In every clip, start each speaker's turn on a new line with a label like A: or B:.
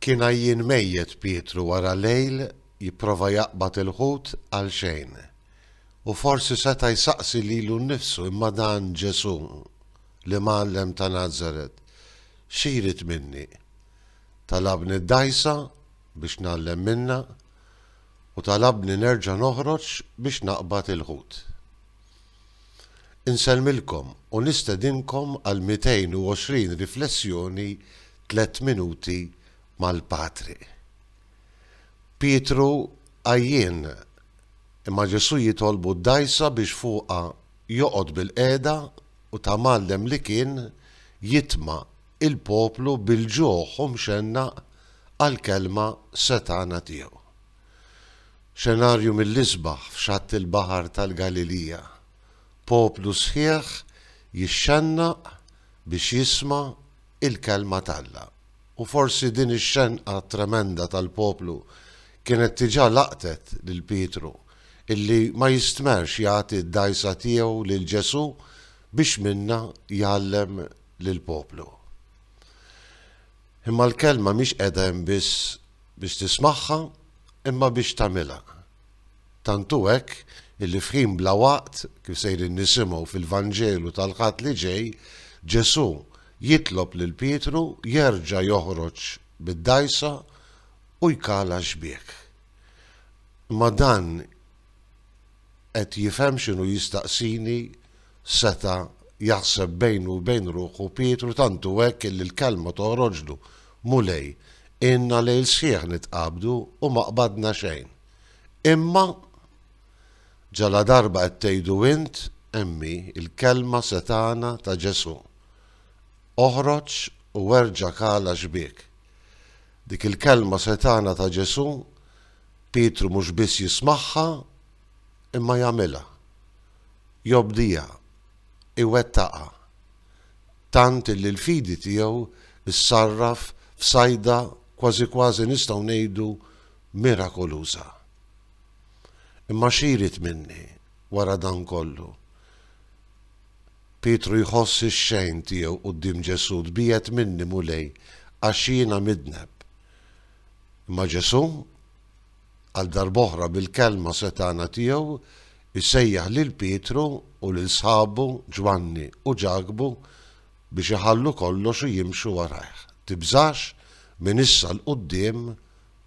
A: Kien għajjien mejjet Pietru wara lejl jipprova jaqbad il-ħut għal xejn. U forsi seta' jsaqsi lilu nnifsu imma dan Ġesù, l-Imgħallem ta' Nazaret, xi jrid minni? Talabni d-dgħajsa biex ngħallem minnha u talabni nerġa' noħroġ biex naqbad il-ħut. Insellmilkom u nistedinkom għal 220 riflessjoni Tlett Minuti mal-Patri. Pietru għajjien, imma Ġesù jitolbu d-dgħajsa biex fuqha joqgħod bilqiegħda u ta' mgħallem li kien jitma' il-poplu bil-ġuħ u mxennaq għall-kelma setgħana tiegħu. Xenarju mill-isbaħ f'xatt il-Baħar tal-Galilija. Poplu sħiħ jixxennaq biex jisma' l-Kelma t'Alla. U forsi din ix-xenqa tremenda tal-poplu kienet diġà laqtet lil Pietru, illi ma jistmerx jagħti d-dgħajsa tiegħu lil Ġesù biex minnha jgħallem lill-poplu. Imma l-Kelma mhix qiegħda hemm biss biex tismagħha, imma biex tagħmilha. Tant hu hekk illi f'ħin bla waqt, kif sejrin nisimgħu fil-Vanġelu tal-Ħadd li ġej, Ġesù jitlob lil Pietru jerġa' joħroġ bid-dgħajsa u jkala x-xbiek. Imma dan qed jifhem x'inhu jistaqsini seta' jaħseb bejnu u bejn ruħu Pietru tant hu hekk illi l-kelma toħroġlu, Mulej, ilna lejl sħiħ nitqabdu u ma qbadna xejn. Imma! Ġaladarba qed tgħidu int, hemm hi, il-kelma setgħana ta' Ġesù, Oħroġ u erġa' kala xbiek. Dik il-kelma setgħana ta' Ġesù, Pietru mhux biss jismagħha, imma jagħmilha. Jobdiha, iwettaqha. Tant illi l-fidi tiegħu ssarraf f'sajda kważi kważi nistgħu ngħidu mirakoluża. Imma xi jrid minni wara dan kollu? Pietru jħoss ix-xejn tiegħu quddiem Ġesù, tbiegħed minni, Mulej, għax jiena midneb. Imma Ġesù, għal darb'oħra bil-kelma setgħana tiegħu, isejjaħ lil Pietru u lil sħabu Ġwanni u Ġakbu biex iħallu kollox u jimxu warajh. Tibżax, minn issa 'l quddiem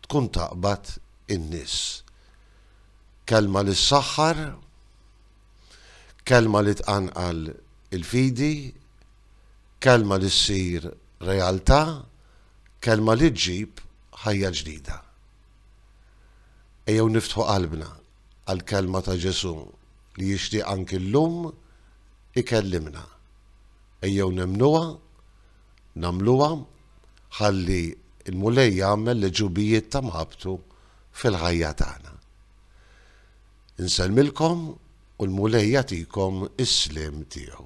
A: tkun taqbad in-nies. Kelma li ssaħħar, kelma li tqanqal il-fidi, kelma li ssir realtà Kelma li ġġib ħajja ġdida. Ejjew niftħu qalbna għall-Kelma ta' Ġesù li jixtieq anki llum ikellimna. Ejjew nemmnuha, nagħmluha, ħalli l-Mulej jagħmel l-għeġubijiet ta' mħabbtu fil-ħajja tagħna. Insellmilkom u l-Mulej jagħtikom is-sliem tiegħu.